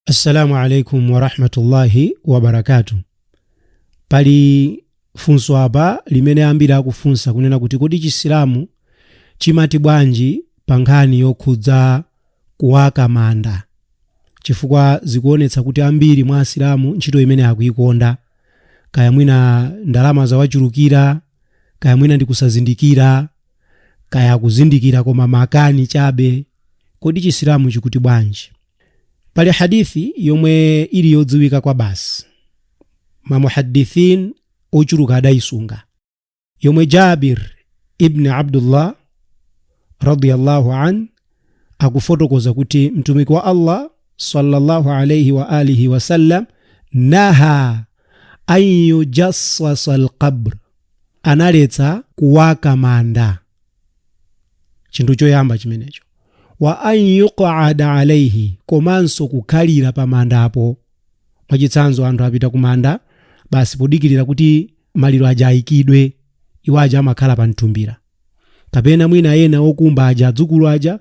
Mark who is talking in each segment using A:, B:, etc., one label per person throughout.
A: assalamu alaikum warahmatullahi wabarakatu pali funso apa limene ambiri akufunsa kunena kuti kodi chisilamu chimati bwanji pa nkhani yokhudza kuwaka manda chifukwa zikuonetsa kuti ambiri mwa asilamu ntchito imene akuikonda kaya mwina ndalama zawachulukira kaya mwina ndi kusazindikira kaya kuzindikira koma makani chabe kodi chisilamu chikuti bwanji pali hadith yomwe ili yodziwika kwa basi mamuhadithin ochuluka adayisunga yomwe jabir ibni abdullah radiyallahu an akufotokoza kuti mtumiki wa allah sallallahu alaihi wa alihi wasallam naha an yujassasa alqabr analetsa kuwaka manda chinthu choyamba chimenecho wa an yuqada alaihi komanso kukhalira pa mandapo mwachitsanzo anthu apita ku manda basi podikirira kuti maliro aja ayikidwe iwo aja amakhala pa mtumbira kapena mwina ena okumba aja adzukulu aja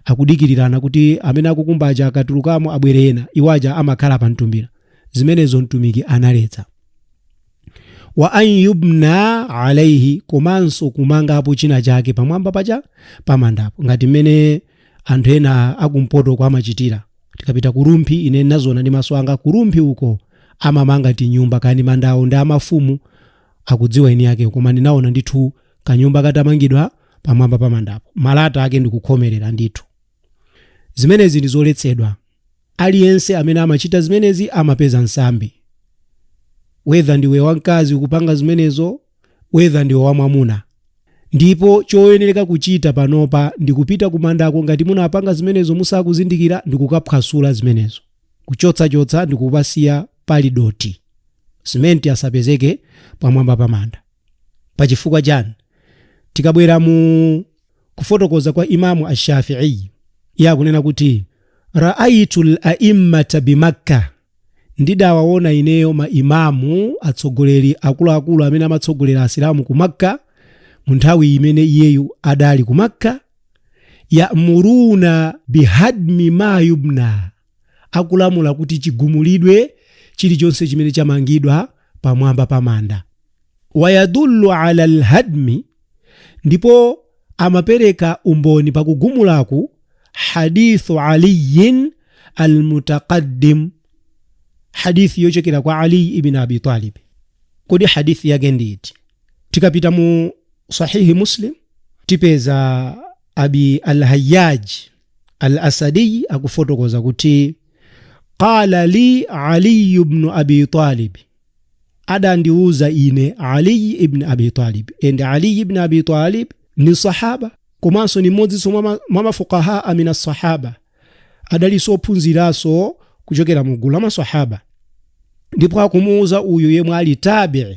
A: akudikirirana kuti amene akukumba aja akatulukamo abwere ena iwo aja amakhala pa mtumbira zimenezo mtumiki analetsa wa an yubna alaihi komanso kumangapo china chake pamwamba paja pamandapo ngati mmene anthu ena akumpotoko amachitira tikapita kurumphi ine nazona ndi maso anga kurumphi uko amamanga tinyumba kani mandawo ndi amafumu akudziwa eni yake koma ndinaona ndithu kanyumba katamangidwa pamwamba pamandapo malata ake ndikukhomerera ndithu Zimenezi ndi zoletsedwa. Aliyense amene amachita zimenezi amapeza nsambi. Whether ndiwe wamkazi ukupanga zimenezo, whether ndiwe wamwamuna. Ndipo choyenereka kuchita panopa ndi kupita kumandako ngati munapanga zimenezo musakuzindikira ndi kukaphwasula zimenezo. Kuchotsachotsa ndi kupasiya pali dothi. Simenti asapezeke pamwamba pa manda. Pa chifukwa chani? Tikabwera mu kufotokoza kwa imamu ashafi'i iye akunena kuti raaitu laimmata bimakka ndidawaona ineyo ma imamu atsogoleri akuluakulu amene amatsogolera asilamu ku makka mu nthawi imene iyeyu adali ku makka yamuruna bihadmi ma yubna akulamula kuti chigumulidwe chilichonse chimene chamangidwa pamwamba pa manda wayadullu ala alhadmi ndipo amapereka umboni pakugumulaku hadithu aliyin almutaqaddim hadithi yochokera kwa ali ibn abi talib kodi hadithi yake nditi tikapita mu sahihi muslim tipeza abi alhayyaj al-asadiy akufotokoza kuti qala li ali ibn abi talib adandiuza ine ali ibn abi talib and ali ibn abi talib ni sahaba komanso ni mmodzinso mwa ma- mwa mafukahaa mina sahaba adalinso ophunziranso kuchokera mu gulu la masahaba ndipo akumuuza uyu yemwe ali tabii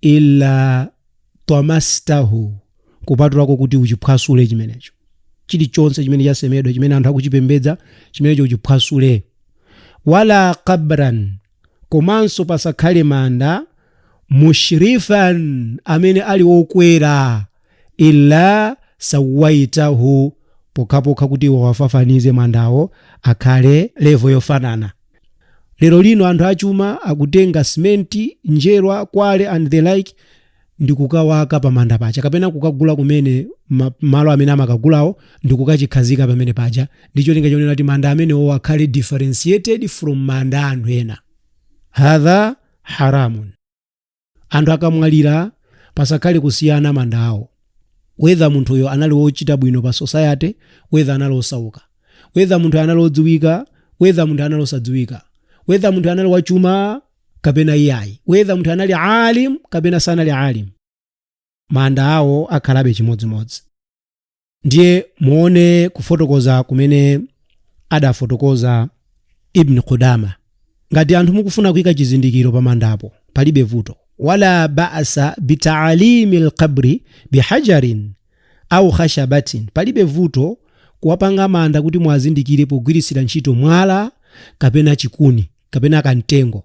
A: illa tamastahu kupatulako kuti uchiphwasule chimenecho chilichonse chimene chasemedwa chimene anthu akuchipembedza chimenecho uchiphwasule wala qabran komanso pasakhale manda mushrifan amene ali okwera illa sawaitahu pokhapokha kuti uwafafanize mandawo akhale levo yofanana lero lino anthu achuma akutenga simenti njerwa kwale and the like ndi kukawaka pamanda paja kapena kukagula kumene malo amene amakagulawo ndi kukachikhazika pamene paja ndi cholinga chonena kuti manda amenewo akhale differentiated from manda a anthu ena hadha haramun anthu akamwalira pasakhale kusiyana manda awo whether munthuyo anali wochita bwino pa society whether anali osauka whether munthu anali odziwika whether munthu anali osadziwika whether munthu anali wachuma kapena iyayi whether munthu anali alim kapena sanali alim manda awo akhalabe chimodzimodzi ndiye muone kufotokoza kumene adafotokoza ibn qudama ngati anthu mukufuna kuyika chizindikiro pamandapo palibe vuto wala basa bitaalimi alqabri bihajarin au khashabatin palibe vuto kuwapanga manda kuti muwazindikire pogwiritsira ntchito mwala kapena chikuni kapena kamtengo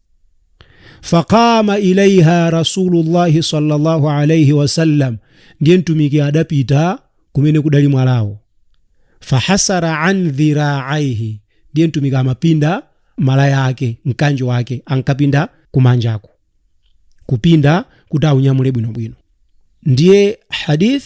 A: faqama ilaiha rasulullah sallallahu alaihi wasallam ndiye mtumiki adapita kumene kudali mwalawo fahasara an dhiraaihi ndiye mtumiki amapinda malaya ake mkanjo wake ankapinda kumanjako kupinda kuti aunyamule bwinobwino ndiye hadith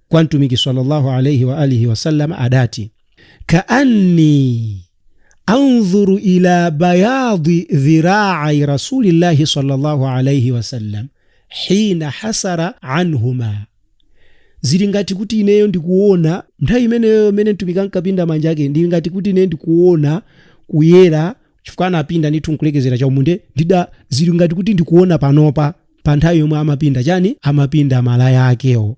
A: kwa mtumiki sallallahu alaihi wa alihi wasallam adati kaanni andhuru ila bayadi dhiraai rasulillahi sallallahu alaihi wasallam hina hasara anhuma zili ngati kuti ineyo ndikuona nthawi imeneyo imene mtumiki ankapinda manja ake ndili ngati kuti ineyo ndikuona kuyera chifukwa anapinda ndithu nkulekezera chaumunde zili ngati kuti ndikuona panopa pa nthawi yomwe amapinda chani amapinda malaya akewo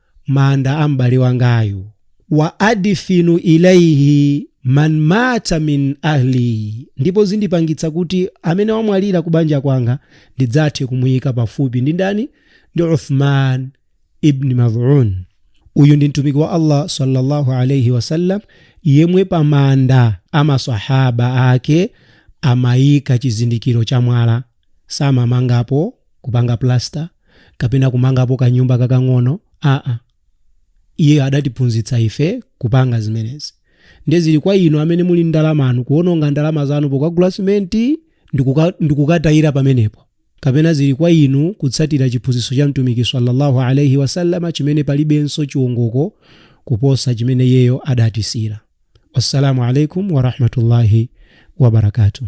A: manda a m'bale wangayu. Wa adfinu ilaihi man mata min ahli, ndipo zindipangitsa kuti amene wamwalira ku banja kwanga ndidzathe kumuyika pafupi ndi ndani? Ndi Uthman ibn Mad'un. Uyu ndi mtumiki wa Allah sallallahu alayhi wasallam yemwe pa manda a masahaba ake amayika chizindikiro cha mwala samamangapo, kupanga plaster, kapena kumangapo kanyumba kakang'ono, aa. Iyeyo adatiphunzitsa ife kupanga zimenezi. Ndiye zili kwa inu amene muli ndalamanu kuwononga ndalama zanu pokagula simenti ndi kuka- ndi kukatayira pamenepo. Kapena zili kwa inu kutsatira chiphunzitso cha Mtumiki salla Allah alaih wasallam chimene palibenso chiongoko kuposa chimene iyeyo adatisiyira. Wassalamu alaikum warahmatullahi wabarakatuh.